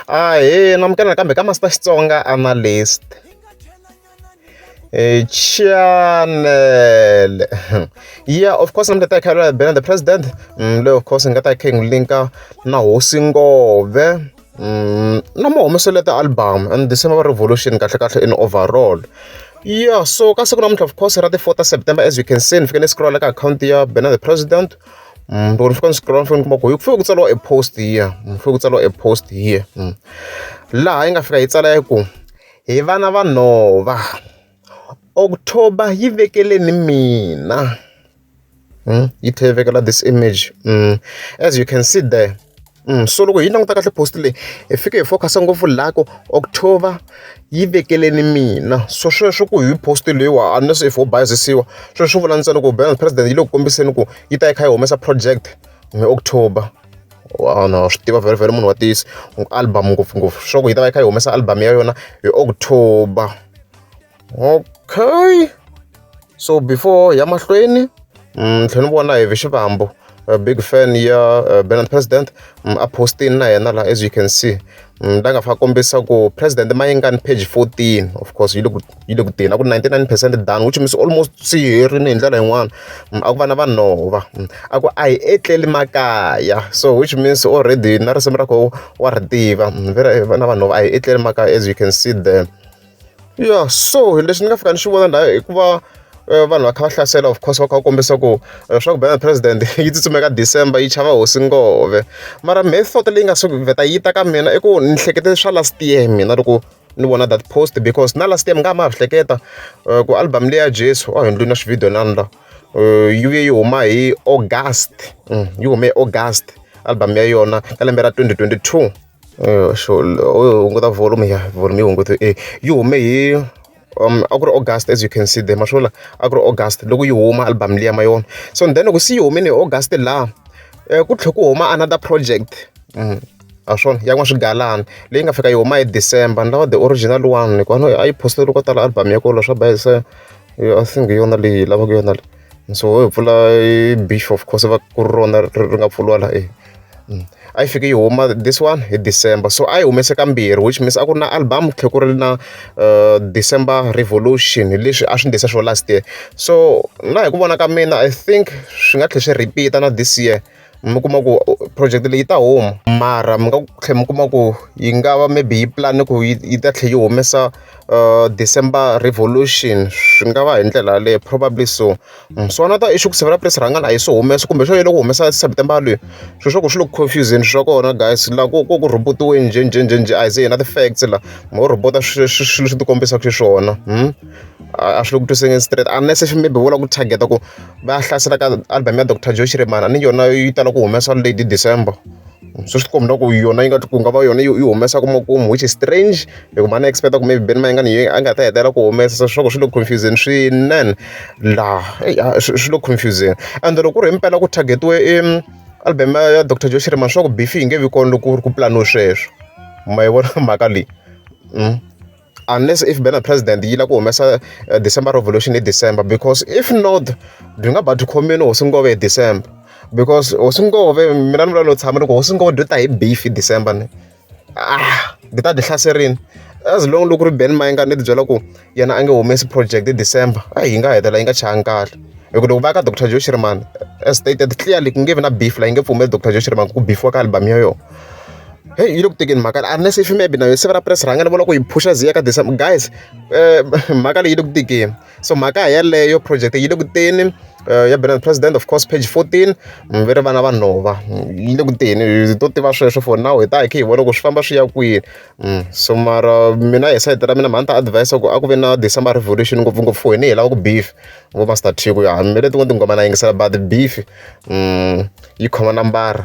ahee namukela nakambe ka master xitsonga analyst e channel yeah of course namukela ta khalwa bena the president mm, le of course nga ta khe ngi linka na hosi ngove mm, na mo humesele ta album and december revolution kahle kahle in overall yeah so ka siku namuntlha of course ra ti 4 september as you can see ni fike ni scrolla ka akhawunti ya bena the president mm, loko ni fika ni scroll mahlweni kuma ku yi ku fike ku tsariwa e post here mm, ni fike ku tsariwa e post here mm. laha yi nga fika yi tsala yi ku hi vana va nhova october yi vekeleni mina yi tlhela yi vekela this image as you can see there so loko hi languta kahle post leyi hi fike hi focus-a ngopfu laha ku october yi vekeleni mina so sweswo ku hi post leyiwa unless if ho bayizisiwa sweswo swi vula ntsena ku bans president yi le ku kombiseni ku yi ta yi kha yi humesa project hi october no swi tiva very very munhu wa tiyisi album ngopfungopfu swa ku yi ta va yi kha yi humesa album ya yona hi october okay so before ya mahlweni mm, tlhela ni vona hi ve xivambo a big fan ya uh, Benin president mm, a postini na yena la as you can see mm, la nga fa kombisa ku president mayingani page 14 of course yi le ku yi le ku teni a ku 99 percent done which means almost swi herini hi ndlela yin'wana mm, a ku vana vanhova mm, a ku a hi etleli makaya so which means already na risimu ra koho wa ri tiva mm, vana vanhova a hi etleli makaya as you can see there ya so leswi ni nga fika ni swi vona la i ku va eh, vanhu va kha va hlasela of course va kha va kombisa ku eh, swa ku bana president yi tsutsumeka december yi chava hosi ngove mara method leyi nga suki vheta yi ta ka mina i ku ni hlekete swa last year mina loko ni vona that post because na last year mi nga ma ha hleketa eh, ku album leya jesu a hi ndlwini na swividiyo nani la yi vuye yi huma hi august mm, yi hume hi august album ya yona ka lembe ra 2022 hunguta volume ya volume yi hungutiwa e yi hume hi a ku ri August as you can see there ma swi vona a ku ri August loko yi huma album liya ma yi vona so then loko se yi humile hi August laha ku tlhela ku huma another project ha swona ya n'waswigalani leyi nga fika yi huma hi December ni lava the original one hikuva a yi post-iwile ko tala album ya kona swa ba hi se I think hi yona leyi hi lavaka yona leyi. so ho hi pfula beach of course va ku ri rona ri nga pfuriwa la e a yi fike yi huma this one hi december so a yi humese kambirhi which means a ku ri na album tlhe ku ri na uh, december revolution hi leswi a swi ndlisa swo last year so na hi ku vona ka mina i think swi nga tlhe swi repeat-a na this year mi kuma ku project leyi yi ta huma mara mi nga tlhela mi kuma ku yi nga va maybe yi plan-e ku yi yi ta tlhela yi humesa December revolution swi nga va hi ndlela yaleyo probably so so na tona i swa ku sivela press rhangani a yi se humesa kumbe swo yini loko humesa September yaleyo swilo swa kona swi le ku confuse-zeni swa kona guys laha ku ku ku rhobot-iwe njhe njhe njhe njhe a hi ze hi na ti-facts laha mo rhobota swilo leswi swilo leswi ti kombisaka xiswona a swi le ku twisiseni straight unless maybe vo lava ku target-a ku. va hlasela ka album ya doctor joe shirimana ni yona yi tala ku humesa lady december swi swi kombela ku yona yi nga ku nga va yona yi humesa kuma kumu which is strange loko mhani expecta ku maybe benima yi nga ni a nga ta hetela ku humesa se swiloko swi le confusing swinene laha swi le confusing and loko ku ri hi mpela ku targetiwe i album ya doctor joe shirimana swa ku beef yi nge vi kona loko ku ri ku planiwe sweswo ma yi vona mhaka leyi mm. unless if bena president yi lava ku humesa eh, december revolution hi december because if not byi nga ba byi khomini hosi ngove hi december because hosi ngove mina ni vula no tshama loko hosi ngove byi ta hi beef hi december ni ah byi ta byi hlaserini as long loko ri ben mayinga ni tibyela ku yena a nge humesi project hi december a yi nga hetela yi nga changi kahle hikuva loko va ka dr joe shirman as stated clearly ku nge vi na beef la yi nge pfumeli dr joe shirman ku bifiwa ka album yo yona heyi yi le ku tekeni mhaka leyi a ri na se fimebe na yo siva ra press rhanga ni vona ku yi phusha ziya ka december guys um mhaka leyi yi le ku tekeni so mhaka yeleyo project yi le ku teni um ya bernard president of course page fourteen mm, ve ri vana va nhova mm, yi le ku teni hi to tiva sweswo for now hi ta hi khe hi vona ku swi famba swi ya kwini mm, so mara mina hi sayiti ra mina mhani ta advise ku a ku ve na december revolution ngopfungopfu hi ni hi lava ku beef vo master tiko ya mi le tin'wana tinghoma na yingisela but beef yi khoma nambara